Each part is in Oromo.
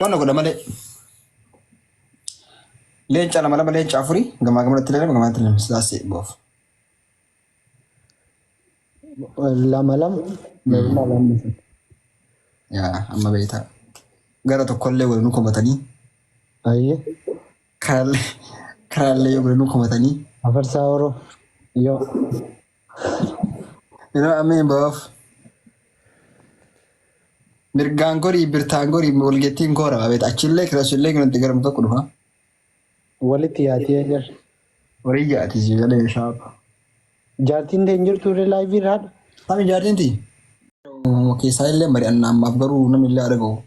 Wanna godha malee. Leenca lama lama leenca afurii gamaa gamanatti lama gamanatti lama sidaasee boof. Lama lama. Lama lama. Yaa amma beektaa. Gara tokkollee walinuu komatanii Ayyee. karaallee karaallee yoo walinuu komatanii Afarsaa Oro. Yoo. Yeroo ammee boof. Mirgaan gorii birtaan gorii walgeettiin koora abeet achillee kirashillee nutti garmu tokko dhufa. Walitti yaatee jira. Horii jaati si galee shaapa. Jaartiin tee hin jirtu irra laayivii irra haadha. Sami jaartiin ti. Keessaa illee mari'annaa ammaaf garuu namni illee argamu.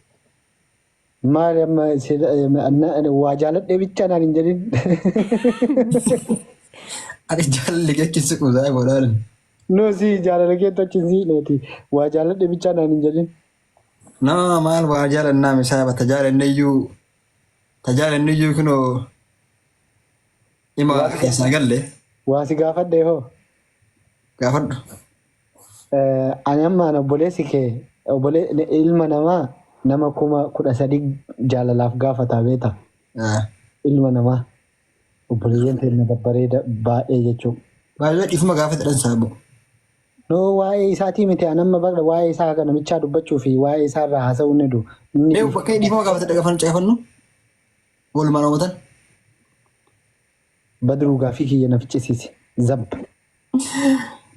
Maali amma waa jaaladhee bichaa naan hin jedhin. Ani jaalalli jechuun si quusaa godhaan. Noo si jaalala keetti achi hin siqneeti. Waa jaaladhee bichaa naan hin jedhin. Nama maal waa jaalannaa misaaba ta jaalanneyyuu ta jaalanneyyuu kunoo ima keessaa galle Waa si gaafadhee hoo? gaafadhu. Ani amma ana obboleessi kee obbole- ne- ilma namaa nama kuma kudha sadii jaalalaaf gaafataa beeta. Ilma namaa obboleeyyan keenya babbareeda baay'ee jechuudha. Baay'ee dhiifama gaafata dhansaa boo. No waa'ee isaatii miti an amma bakka waa'ee isaa kana michaa dubbachuu fi waa'ee isaa irraa haasa'uu ni du. Inni Mee bakka dhiifama gaafata dhagafannu caqafannu. Oolmaa raawwatan. Badru gaafii kiyya na ficcisiisi. Zab.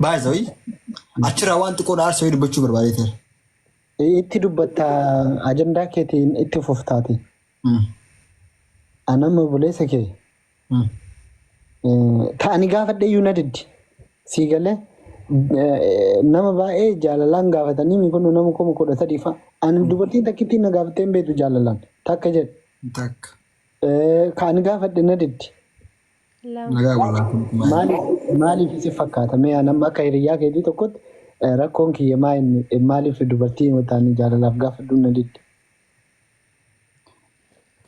By the way, achirraa waan xiqqoo dhaarsa wayii dubbachuu barbaadee ture. Itti dubbatta ajandaa keetiin itti fuftaati. Mm. Anam obboleessa kee Mm. ta'anii gaafadhee iyyuu na diddi. Sii galee eh, nama baay'ee jaalalaan gaafatanii mi kun nama kuma kudha sadii fa'a. Ani dubartiin takkittiin na gaafattee hin beektu jaalalaan takka jedhe. Takka. Ka ani gaafadhe na didde. Lama. Nagaa walaa kun maali? Maaliif maaliif isin fakkaata? Mee an amma akka hiriyyaa keetii tokkotti eh, rakkoon kiyya maa inni eh, maaliif dubartii wataanii jaalalaaf gaafadhuun na didde?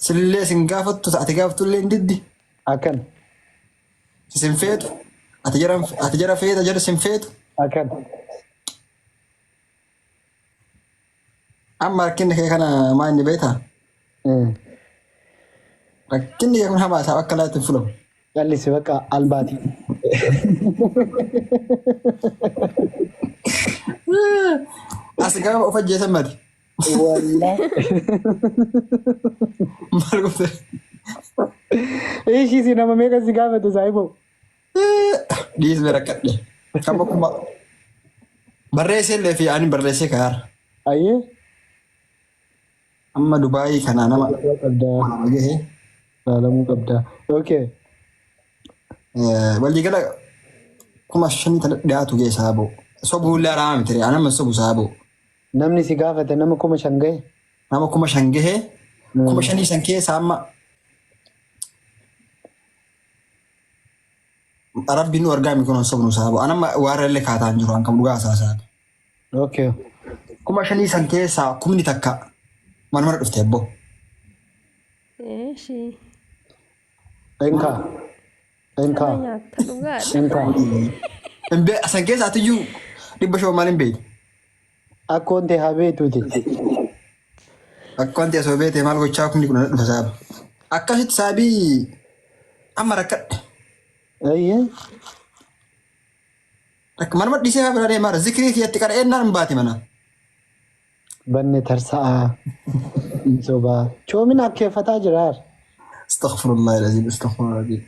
Sillee sin gaafattu ati gaafattu illee hin diddi. Akkan Sin feetu. Ati jara ati jara feeta jara sin feetu. akkan Amma rakkinni kee kana maa inni beektaa? Rakkinni kee kun hamaa isaa akka laatti hin fulamu. Callisi bakka albaati. As gaafa of ajjeesan mati. Wallah. Maal gootee? Ishii si nama meeqa si gaafate saayiboo? Dhiisni rakkadhe. Kan bokkuma barreessee illee fi ani barreessee kaa'aara. Ayyee. Amma Dubaayii kanaa nama Laalamuu qabdaa. nama gahe. Laalamuu qabdaa. Okay. Eh, Waliigala kuma shanii tana dhiyaatu ga'e saaboo. Sobuu illee araama miti ani amma sobu saaboo. Namni si gaafate nama kuma shan gahe. Nama kuma shan gahe. Kuma shanii san keessaa amma Rabbi nu argaa mikuun sobnu saaba. Anamma waarra illee kaataa hin jiru an kam dhugaa hasaasaan. Okay. Kuma shanii san keessaa kumni takka mana mana dhufte ebboo. Eeshi. Enkaa. Enkaa. Kana nyaatta dhugaadha. Enkaa. Hin bee- San keessaa atiyyuu dhibba shoo maal hin beektu. Akkoon tee haa beektuuti. Akkoon tee osoo beekte maal gochaa kumni kudhan dhufa saaba. Akkasitti saabii amma rakkadhe. Ayyee. Manuma dhisee haa bira deemaa zikrii kiyyatti qara'eennaan hin baati mana. Banne tarsa'aa. Sobaa. Choomin akkeeffataa jiraar. Astaghfirullah ilaziim astaghfirullah.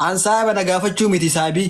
An saaba na gaafachuu miti saabii.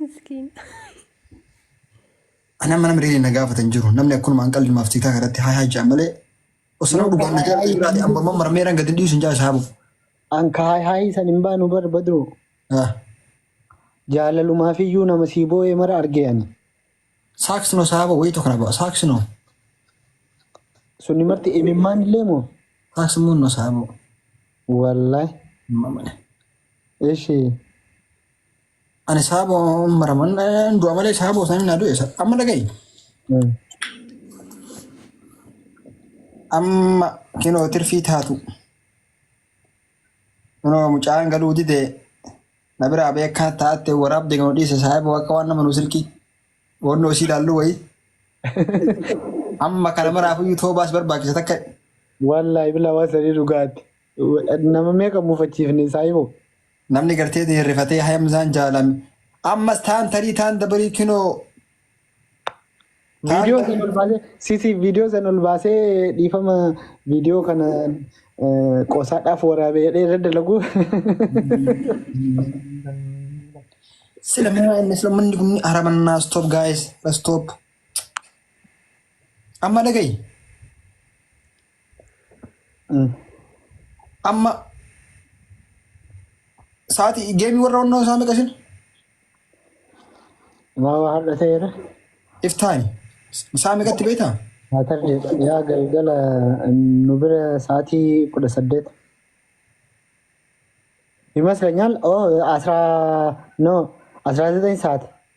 Miskiin. Ani amma namni reedii na gaafatan hin jiru. Namni akkanuma an qalli maaf tiitaa kanatti haa haa jaan malee. Osoo nama dhugaan na jaalatu jiraate amma amma marmeeraan gadi hin dhiisu hin jaalatu haa bu'u. An ka haay haayii san hin baanu bar badru. Ah, Jaalalumaaf iyyuu nama sii boo'ee mara argee ani. Saaksino saaba wayii tokko na ba'a. Saaksino. Sunni marti imimmaan illee moo? Saaksimuun no saaba. Wallahi. Mamane. Ishii. Ani saaboo maraman du'a malee saaboo isaanii naa du'e amma dhaga'i. Amma kinoo tirfii taatu. Kunoo mucaan galuu dide na biraa beekaa taatte waraabde kan dhiise saaboo akka waan nama nu silkii boonnoo isii ilaalluu wayii. Amma kana maraaf iyyuu toobaas barbaachisa takka Wallaahi bilaa waan sadii dhugaatti. Nama meeqa muufachiifne saayiboo? Namni gartee ta'e rifatee hayamzaan jaalame ammas taan tarii taan dabarii kinoo taan Viidiyoo san ol baasee sisi viidiyoo san ol baasee dhiifama viidiyoo kana eh, qosaadhaaf waraabee jedhee irra dalagu. sila minaa inni sila manni kun haramannaa stop guys stop amma dhagayi Amma sa'aatii geemii warra onnoo isaa meqa isin? Maa waa har'a ta'eera. If time. Isaa meqatti beektaa? Haa tarree yaa galgala nu bira sa'aatii kudha saddeet. Imas keenyaan oo asraa noo asraa zexeen sa'aati.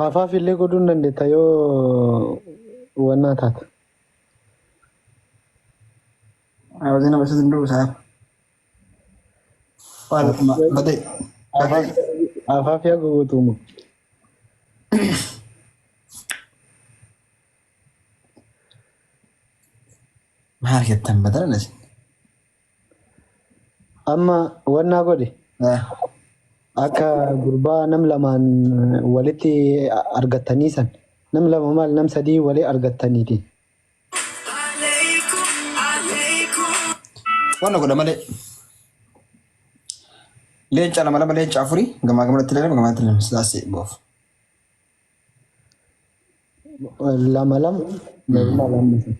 Haafaaf illee godhuu hin dandeetta yoo wannaa taate. Hawwaasni nama isa danda'u isaa. Waan akkuma badee. Haafaaf haafaaf yaa gowwatuuma. Maal jettan badana isin? Amma wannaa godhi akka gurbaa nam lamaan walitti argattanii san nam lama maal nam sadii walii argattaniiti. Wanna godha malee. Leenca lama lama leenca afurii gamaa gamanatti lama gamanatti lama sidaasee boof. Lama lama meeqaa lamni sun?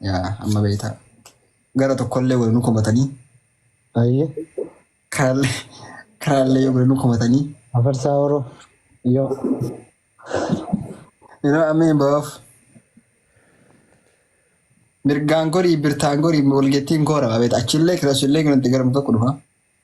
Yaa amma beektaa. Gara tokkollee godhanii komatanii. Ayyee. Karaallee karaallee yoo godhanii komatanii. Afarsaa horoo. Yoo. Yeroo ammeen baaf. Mirgaan gorii birtaan gorii walgeettiin koo rabaa beektaa. Achillee kiraasullee kanatti gara muka qudhufa.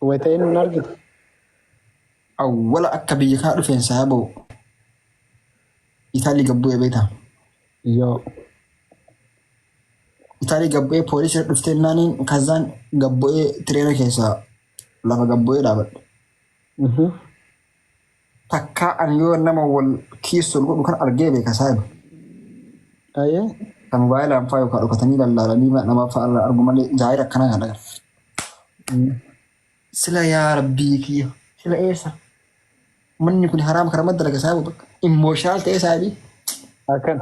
Wayita eenyuun argite? Awwala akka biyya kaa dhufeen saa ba'u. Itaalii gad bu'ee beektaa? Yoo. Itaalii gad bu'ee poolisii dhuftee naaniin kazaan gad bu'ee tireera keessaa lafa gad bu'ee dhaabadhe. Mhm. Takkaa ani yoo nama wal kiissu ol godhu kan argee beeka saahiba. Aye. Kan moobaayilaan faa yookaan dhokatanii lallaalanii nama faa irraa argu malee jaayira akkanaa kan agarre. Sila yaa rabbii kiyya sila eessa? Manni kun haraama kana madda laga saahiba bakka. Immooshaal ta'ee saahibii. Akkan.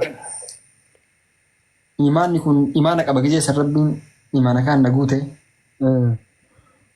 Imaanni kun imaana qaba gizee san rabbiin imaana kaan na guute. Eh.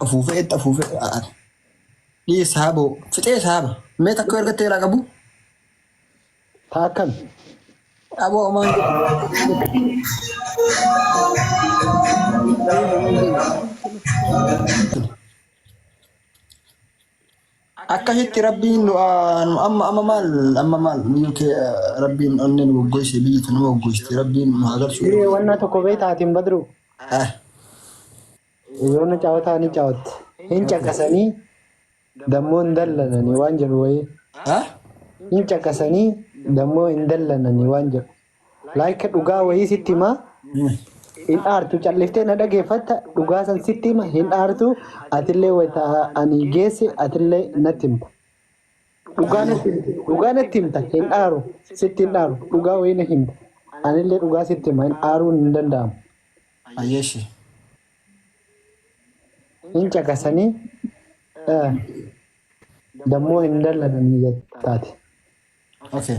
Xafuufee itti afuufee ani. Dhii saaboo fixee saaba. Mee takka erga teeraa qabu. Taa akkan. Aboo homaan jedhu. Akka hitti rabbiin nu amma amma maal amma maal UK rabbiin onnee nu goggoyse biyyi tun nama goggoysti rabbiin nu haa galchu. Diree wannaa tokko beektaa atiin badruu? Ah. Yoona caawwataa ni caawwatte. Hin caqasanii dammoo hin dallananii waan jedhu wayii. Ah. Hin caqasanii dammoo hin dallananii waan jedhu. Like dhugaa wayii sitti himaa hin aartu calliftee na dhageeffatta dhugaa san sitti hima hin aartu atillee wayita ani geesse atillee natti himta. Dhugaa natti himta dhugaa natti himta hin aaru sitti hin aaru dhugaa wayii na himta anillee dhugaa sitti hima hin aaruun hin danda'amu. Ayyeeshi. Hin caqasanii eh, dammoo hin dallananii jettaati. Okay.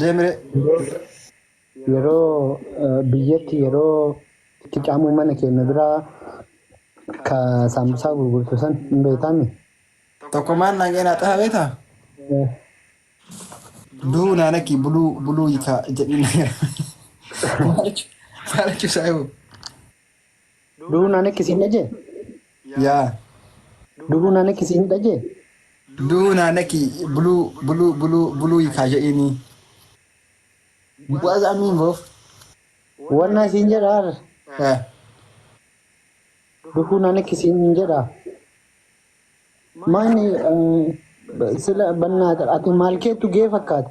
Deemire. Yeroo biyyatti yeroo itti caamu mana keenya biraa ka saambusaa gurgurtu san hin beektaami? Tokko maan naan jedhee naa xaha beektaa? Du'uu naa lakkii buluu buluu hiikaa jedhiin na jedha. Maal jechuun isaa yoo? Du'uun ani akka isin dhaje? Yaa. Du'uun ani akka isin dhaje? Du'uun ani akka buluu buluu buluu buluu hiikaa jedhiini. What does that mean bro? Wanna isin jedha arra. Eh. Du'uun ani akka isin jedha. Maani sila bannaata ati maal keettu gee fakkaata?